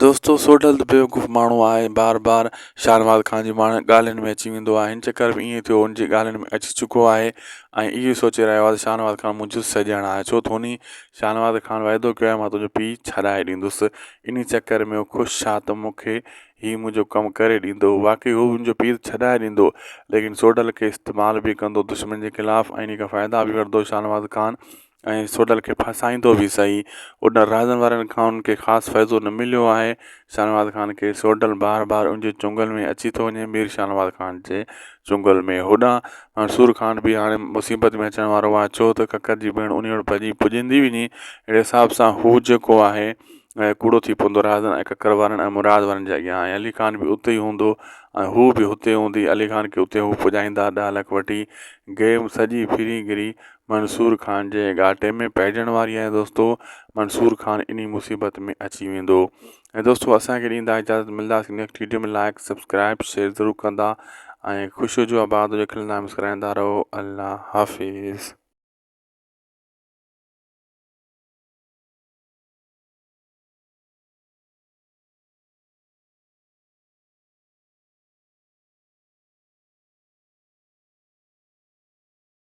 دوستو سوڍل ته بيوقوف ماڻهو آهي بار بار شاهنواز خان جي ماڻهن ڳالهين ۾ اچي ويندو آهي هن چڪر به ائين ٿيو هن جي ڳالهين ۾ اچي چڪو آهي ۽ اهو ئي سوچي رهيو آهي ته شاهنواز خان منهنجو سڄڻ آهي ڇو ته هن شاهنواز خان وعدو ڪيو آهي مان تنهنجو پيء ڇڏائي ڏيندس انهي چڪر ۾ هو خوش آهي ته مون کي هي منهنجو ڪم ڪري ڏيندو واقعي هو هن جو پيء ته ڇڏائي ڏيندو ليڪن سوڍل کي استعمال به ڪندو دشمن جي خلاف ۽ انهي کان فائدا به وٺندو شاهنواز خان ۽ سوڍل کي ڦاسائيندو به سهي ان رازن وارن کان ان کي خاص فائدو نه مليو آهي شاهنواز خان کي سوڍل بار بار ان جي چنگل ۾ اچي ٿو وڃي مير شاهنواز خان جي چنگل ۾ هوڏانهن منصور خان به هاڻي مصيبت ۾ اچڻ وارو آهي ڇو ته ڪڪر جي ڀيڻ انهي وٽ ڀڄي پڄندي وڃي اهڙي حساب سان هو جيڪو آهي ڪوڙو ٿي پوندو رازن ۽ ڪڪر وارن ۽ مراد وارن جي اڳيان ۽ علي خان به اتي ئي هوندو ۽ هو به هتي هوندي علي خان کي اتي هو پڄائيندا ڏهه لک وٺي گيم سڄي ڦري گھري منصور خان جي گهاٽي ۾ پئجڻ واري آهي دوستو منصور خان اني مصيبت ۾ اچي ويندو ۽ دوستو اسان کي ڏيندا اجازت ملنداسين next video ۾ like subscribe share ضرور ڪندا ۽ خوش هجو آباد هجو کلندا مسڪرائندا رهو الله حافظ